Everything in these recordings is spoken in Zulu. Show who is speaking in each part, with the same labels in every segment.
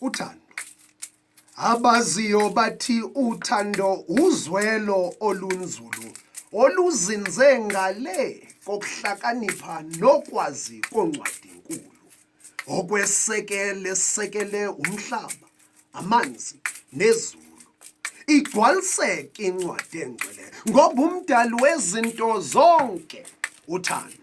Speaker 1: uthando abaziyo bathi uthando uzwelo olunzulu oluzinze ngale kokuhlakanipha nokwazi koncwadi nkulu okwesekele sekele umhlaba amanzi nezulu igcwaliseke incwadi engcwele ngoba umdali wezinto zonke uthando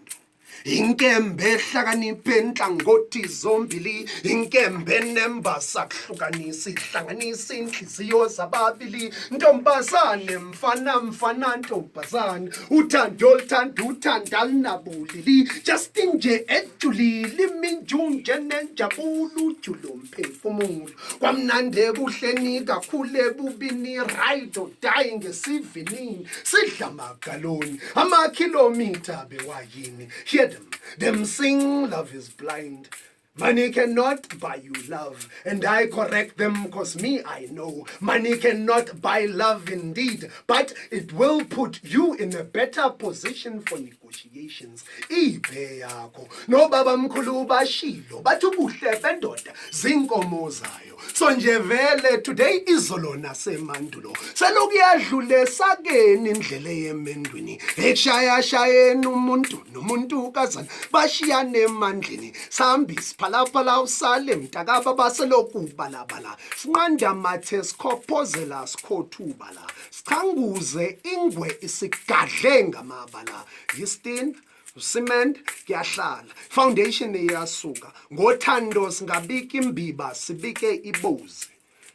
Speaker 1: inkembe ehlakaniphe nhlangothi zombili inkembe nembasa kuhlukanisa ihlanganisa inhliziyo zababili ntombazane mfana mfana ntombazane uthando luthanda uthanda lunabulili justin nje ejulile iminjunje nenjabulo ujule umphefumulo kwamnandi ebuhleni kakhulu ebubini right or die ngesivinini sidla magaloni amakhilomitha bewayini hear them them sing love is blind Money cannot buy you love, and I correct them cause me I know. Money cannot buy love indeed, but it will put you in a better position for Nico. negotiations ibe yakho nobaba mkhulu bashilo bathi ubuhle bendoda zinkomo zayo so nje vele today izolo nasemandulo selokuyadlule sakeni indlela yemendwini ekushayashayeni umuntu nomuntu kazana bashiyane emandleni sambi siphalaphala usale mntakababa selokubalabala sinqanda mathe sikhophozela sikhothuba la Sichanguze ingwe isigadle ngamabala. Yistin cement kuyahlala foundation iyasuka ngothando singabika imbiba sibike ibuzi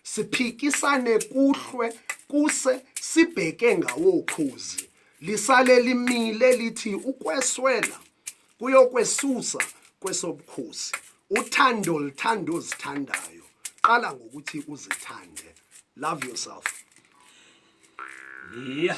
Speaker 1: siphikisane kuhlwe kuse sibheke ngawokhuzi lisale limile lithi ukweswela kuyokwesusa kwesobukhosi uthando lithanda ozithandayo qala ngokuthi uzithande love yourself
Speaker 2: yeah